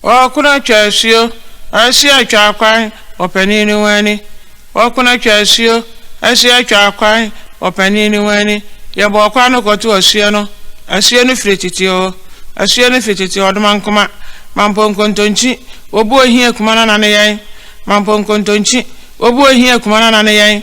Wɔkona atwa asuo, asia atwa akwan wɔ panin no ho ani. Wɔkona atwa asuo, asia atwa akwan wɔ panin no ho ani. Yɛbɔ ɔkwan no kɔto asuo no. Asuo no firi tete oo, asuo no firi tete ɔdoma nkoma. Mampo nkontonkyi, wɔbu ohia kuma no anane yɛn. Mampo nkontonkyi, wɔbu ohia kuma no anane yɛn.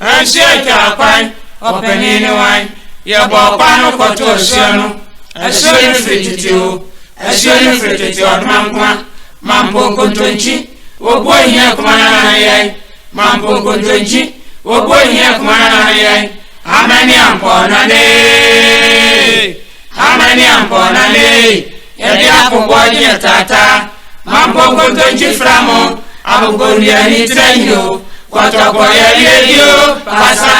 Ɛnhyeɛ ntwaa kwan, ɔpanin ne wan? Yɛbɔɔ kwan no kɔtoo ɛhyeɛ no, ɛhyeɛ no firi tete o, ɛhyeɛ no firi tete ɔdomankoma, mampo nkontonkyi, obu ohia akuma no anan yɛn, mampo nkontonkyi, obu ohia akuma no anan yɛn, amɛne ampɔɔnanee. Amane ampɔna mee, yɛde afoboɔ ne ɛtata, mampɔ nkontonkyi fra mo, abobonnua ni tra nyo, kɔtɔkɔ yareɛ ni o, pasaa.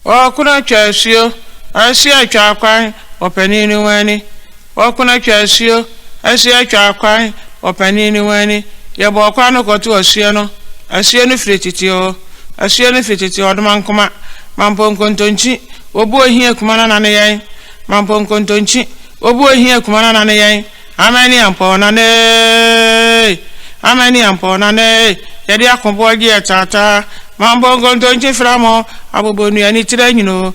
Ɔɔkono atwa asuo, asuo atwa akwan, ɔpanin ne ho ani. Wɔko atwa asuo, asuo atwa akwan wɔ panin no ho ani. Yɛbɔɔ kwan no kɔtoo asuo no. Asuo no firi tete oo, asuo no firi tete ɔdoma nkoma, mampo nkontonkyi, wɔbu ohia kuma no nane yɛn, mampo nkontonkyi, wɔbu ohia kuma no nane yɛn, amen ne ampɔɔ nane eeii, amen ne ampɔɔ nane eeii, yɛde akoboɔ gye yɛ taataa, mampo nkontonkyi fra mo, abobonua ne tire nyini oo,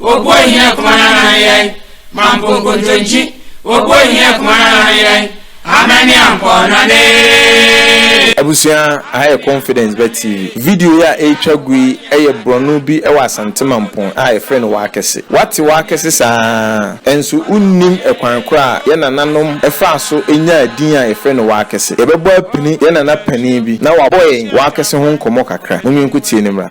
Obuo hia kuma na na yɛn. Mampo nkontonkyi. Obuo hia kuma na na yɛn. Amɛne ampɔ na ne. Abusua, aha yɛ Confidence Ba TV. Video yi a ɛretwa gu yi yɛ borɔno bi wɔ Asante Mampong a yɛfrɛ no W'akɛse. W'ate W'akɛse saa ara, nso wonnim kwan korɔ a yɛn nananom faa so nyaa din a yɛfrɛ no W'akɛse. Yɛbɛbɔ apini yɛn nana panin bi na wabɔ yɛn W'akɛse ho nkɔmmɔ kakra. Mom yɛnkotie no mmra.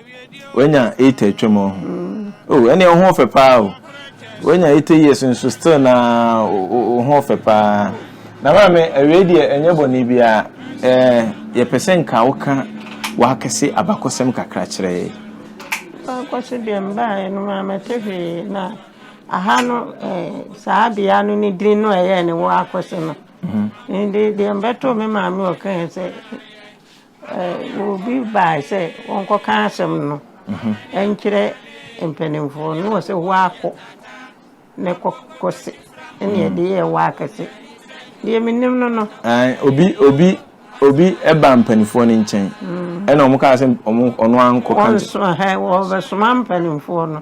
Wanya eight atwam ɔho. Oh, ɛne ɔho ɔfɛ paa o. Wanya eight years nso still na ɔho ɔfɛ paa. Na maame awie deɛ ɛnyɛ bɔne biara. Eh, yɛpɛ sɛ nka woka w'akɛse abakɔsɛm kakra kyerɛ yɛ. Abakɔse deɛ mbaeɛ no mammɛte hwee na aha no eh, saa bea no ne din no ɛyɛɛ ne wɔ akɔse no. Mhm. Nde deɛ mbɛto me maame ɔkae sɛ Obi bae sɛ ɔnkɔka asɛm no nkyerɛ mpanimfoɔ no, na ɔsɛ woakɔ na kɔkɔse ɛne ɛde yɛ woakɛse deɛ menim no no. Obi obi obi ɛba mpanimfoɔ no nkyɛn ɛna wɔn kaa sɛ wɔn ɔno ankɔ ka. Wɔn so ɛhɛ wɔbɛsoma mpanimfoɔ no.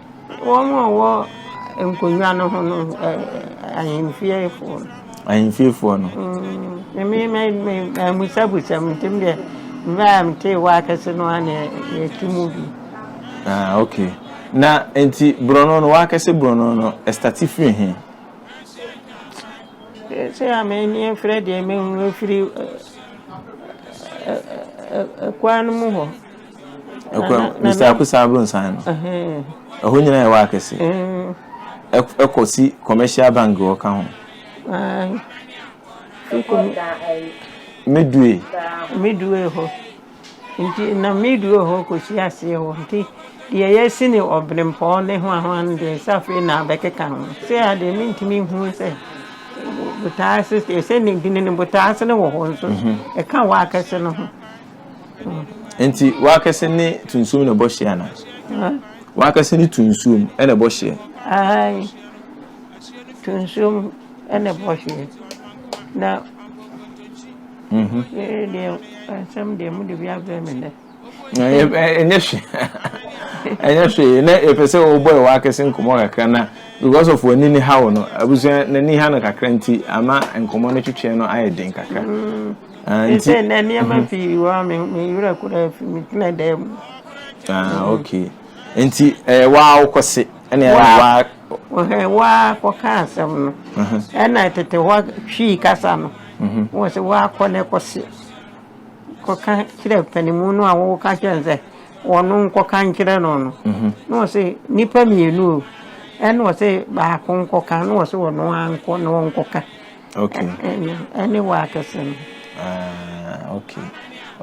Wɔn a wɔwɔ nkonnwa no ho no, ahemfiefoɔ no. Ahemfiefoɔ no. Mm, me me me amusabusa mu nti deɛ mmerɛ a metee wɔ akɛse no a na ɛtu mu bi. Ah, okay. Na nti borɔno no wɔ akɛse borɔno no ɛstate firi he? Sɛ a m'ani afirɛ deɛ mehunu firi ɛkwan no mu hɔ. Mr. Akosa Abronsan no, ɛhɔ nyina yɛ waa kɛse. Ɛkɔ si commercial bank wɔ ka ho. Midway. Midway hɔ. Nti na midway hɔ kɔ si aseɛ hɔ. Nti deɛ yɛsi ne ɔbenempɔn ne ho ahoa no deɛ sɛ afei na abɛkeka ho. Sɛ adeɛ mentumi hu sɛ botaase sɛ ne dini ne botaase no wɔ hɔ nso ɛka waa kɛse no ho. Nti w'akɛse ne to nsuom na ɛbɔ hyeɛ ana? W'akɛse ne to nsuom na ɛbɔ hyeɛ? Ae, to nsuom na ɛbɔ hyeɛ. Na mhm. yɛyɛ deɛ nsɛm deɛ mu de bi abrɛ me dɛ. Ɛnyɛ hwee ɛnyɛ hwee na yɛpɛ sɛ wɔbɔ ɛwɔ akɛse nkɔmɔ kakra na because of w'ani ne haw no abusua n'ani ha no kakra nti ama nkɔmɔ no twetweɛ no ayɛ den kakra. Mm. Nti sɛ nnɛ nneɛma mhm. pii wɔ a me werɛ koraa afi me tena dan mu ah, okay nti ɛyɛ eh, waa wokɔ se ɛne ɛne waa wɔhɛ waa kɔka asɛm no mhm. ɛna tete hɔ twii kasa no mhm. wɔ sɛ waakɔ ne kɔse kɔka kyerɛ panimu no a woka kyerɛ sɛ wɔno nkɔka nkyerɛ no no na wɔ sɛ nnipa mmienu o ɛna wɔ sɛ baako nkɔka na wɔ sɛ wɔno ankɔ na wɔnkɔka Okay. Ɛne wɔ akɛse no. Ah, okay.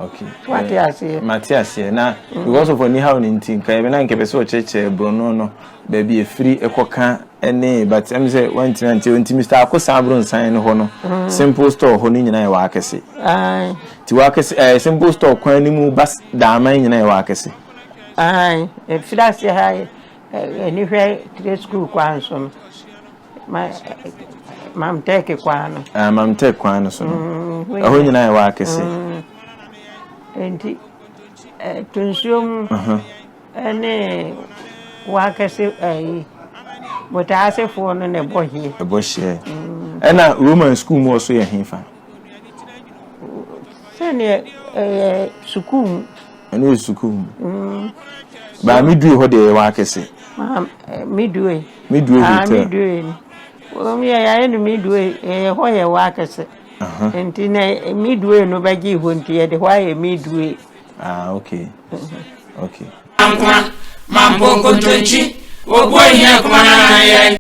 Okay. Wate aseɛ. Mate aseɛ na mm. because of ɔni haw ne nti nka ɛbɛ na nkɛpɛ sɛ ɔkyerɛkyerɛ borɔno no baabi efiri ɛkɔka ɛne but ɛmi sɛ wɔntumi ante nti Mr. Akosa Abronsan no hɔ no mm. simple store hɔ no nyinaa yɛ wɔ akɛse. Ayi. Ti wɔ akɛse ɛɛ eh, simple store kwan ne mu bas daaman nyinaa yɛ wɔ akɛse. Ayi efiri aseɛ ha yɛ. Ani hwɛ tire sukuu kwan no so no, Mam Tɛk kwan no. Ah, Mam Tɛk kwan no so no. Mm, Ɛhɔ nyinaa yɛ wɔ akɛse. Mm. Nti, to nsuo mu ne wɔ akɛse ayi, botaasefoɔ no na ɛbɔ hyeɛ. Ɛbɔ hyeɛ. Ɛna Roman sukuu mu ɔso yɛ hefa? Sɛdeɛ ɛyɛ sukuu mu. ɛno yɛ sukuu mu mm. baa me due hɔ deɛ yɛwɔ akɛse eh, me due me due ah, hotel me due wɔn yɛ yɛayɛ no me due yɛyɛ hɔ yɛwɔ akɛse nti na eh, me due no bɛgye hɔ nti yɛde hɔ ayɛ me due ah okay mhm. okay mampo nkontonkyi obuo hia kuma na yɛn